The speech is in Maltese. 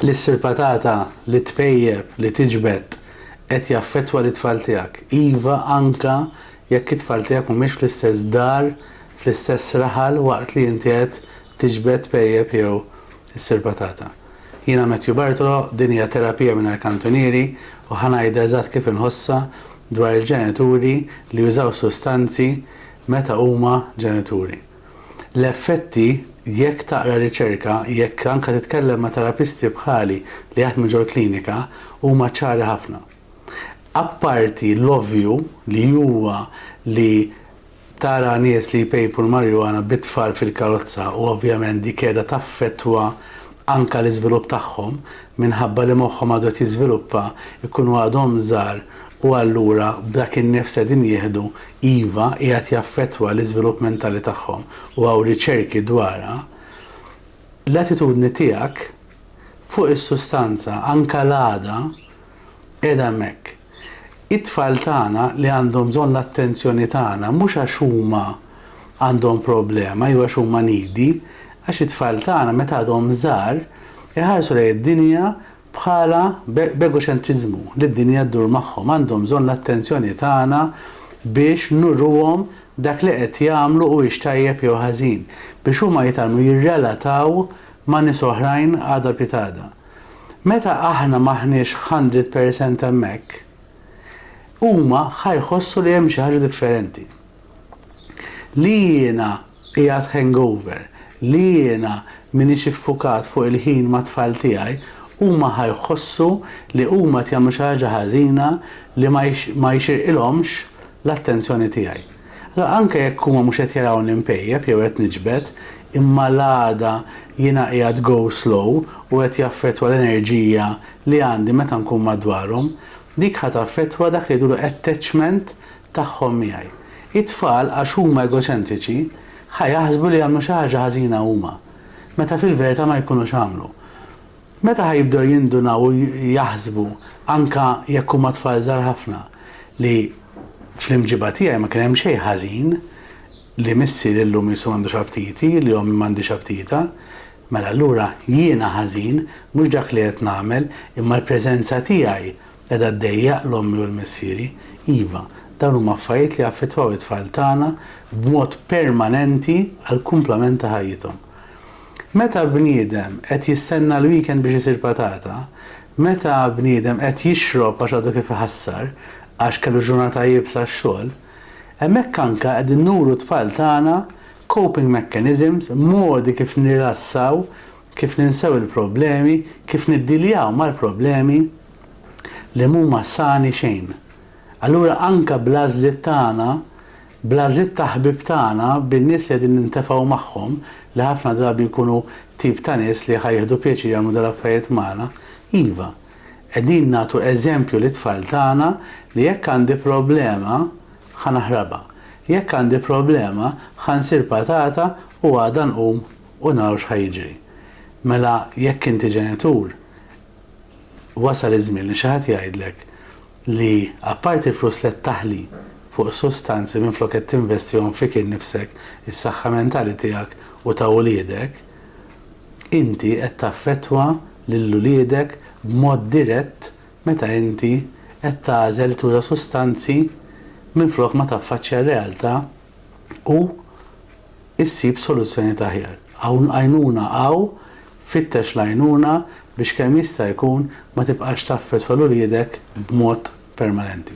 li ssir patata li tpejjep, li tiġbed, qed jaffettwa lit-tfal tiegħek. Iva, anke jekk it-tfal tiegħek mhumiex fl-istess dar, fl-istess raħal waqt li inti qed tiġbed, tpejjep jew issir patata. Jiena Matthew Bartolo, din hija Terapija Mingħajr Kantunieri u ħa ngħidha eżatt kif inħossha dwar il-ġenituri li jużaw sustanzi meta huma ġenituri. L-effetti, jekk taqra riċerka, jekk anke titkellem ma' terapisti bħali li jaħdmu ġol-klinika, huma ċari ħafna. Apparti l-ovvju li huwa li tara nies li jpejpu l-marijuana bit-tfal fil-karozza u ovvjament dik qiegħda taffettwa anke l-iżvilupp tagħhom, minħabba li moħħhom għadu qed jiżviluppa, ikunu għadhom żgħar u allura b'dak in-nifs qegħdin jieħdu, iva, qiegħed jaffettwa l-iżvilupp mentali tagħhom u hawn riċerki dwarha, l-attitudni tiegħek fuq is-sustanza, anke l-għada, qiegħda hemmhekk. It-tfal tagħna li għandhom bżonn l-attenzjoni tagħna mhux għax huma għandhom problema jew għax huma needy, għax it-tfal tagħna meta għadhom żgħar iħarsu lejn id-dinja bħala b'egoċentriżmu li d-dinja ddur magħhom, għandhom bżonn l-attenzjoni tagħna biex nuruhom dak li qed jagħmlu huwiex tajjeb jew ħażin, biex huma jitgħallmu jirrelataw ma' nies oħrajn għada pitada. Meta aħna m'aħniex hundred percent hemmhekk, huma ħa jħossu li hemm xi ħaġa differenti. Li jiena qiegħed hangover, li jiena m'iniex iffukat fuq il-ħin mat-tfal tiegħi, huma ħa jħossu li huma qed jagħmlu xi ħaġa ħażina li ma jxirqilhomx l-attenzjoni tiegħi. La anke jekk huma mhux qed jarawni mpejjep jew qed niġbed, imma l-għada jiena qiegħed go slow u qed jaffettwa l-enerġija li għandi meta nkun madwarhom. Dik ħa taffettwa dak li jgħidulu attachment tagħhom miegħi. It-tfal għax huma egoċentriċi ħa jaħsbu li għamlu xi ħaġa ħażina huma, meta fil-verità ma jkunux għamlu. Meta ħa jibdew jindunaw u jaħsbu, anke jekk huma tfal żgħar ħafna, li fl-imġiba tiegħi ma kien hemm xejn ħażin, li missieri illum qisu m'għandux aptiti, li ommi m'għandhiex aptita, mela allura jiena ħażin, mhux dak li qed nagħmel, imma l-preżenza tiegħi qiegħda ddejjaq 'l ommi u 'l missieri. Iva, dawn huma affarijiet li jaffettwaw it-tfal tagħna b'mod permanenti għall-kumplament ta' ħajjithom. Meta bniedem qed jistenna l-weekend biex isir patata, meta bniedem qed jixrob għax għadu kif iħassar għax kellu ġurnata iebsa x-xogħol, hemmhekk anka qegħdin nuru t-tfal tagħna coping mechanisms, modi kif nirrilassaw, kif ninsew il-problemi, kif niddiljaw mal-problemi li mhuma sani xejn. Allura anka bl-għażliet tagħna Bl-għażliet ta' ħbieb tagħna, bin-nies li qegħdin nintefgħu magħhom, li ħafna drabi jkunu tip ta' nies li ħa jieħdu pjaċir jagħmlu dal-affarijiet magħna, iva, qegħdin nagħtu eżempju lit-tfal tagħna li jekk għandi problema, ħa naħrabha. Jekk għandi problema, ħa nsir patata u għada nqum u naraw x'ħa jiġri. Mela jekk inti ġenitur, wasal iż-żmien li xi ħadd jgħidlek, li apparti l-flus li qed taħli fuq is-sustanzi minflok qed tinvestihom fik innifsek, is-saħħa mentali tiegħek u ta' uliedek, inti qed taffettwa lil uliedek b'mod dirett meta inti qed tagħżel tuża sustanzi minflok ma taffaċċja r-realtà u ssib soluzzjonijiet aħjar. Hawn għajnuna hawn, fittex l-għajnuna biex kemm jista' jkun ma tibqax taffettwa 'l uliedek b'mod permanenti.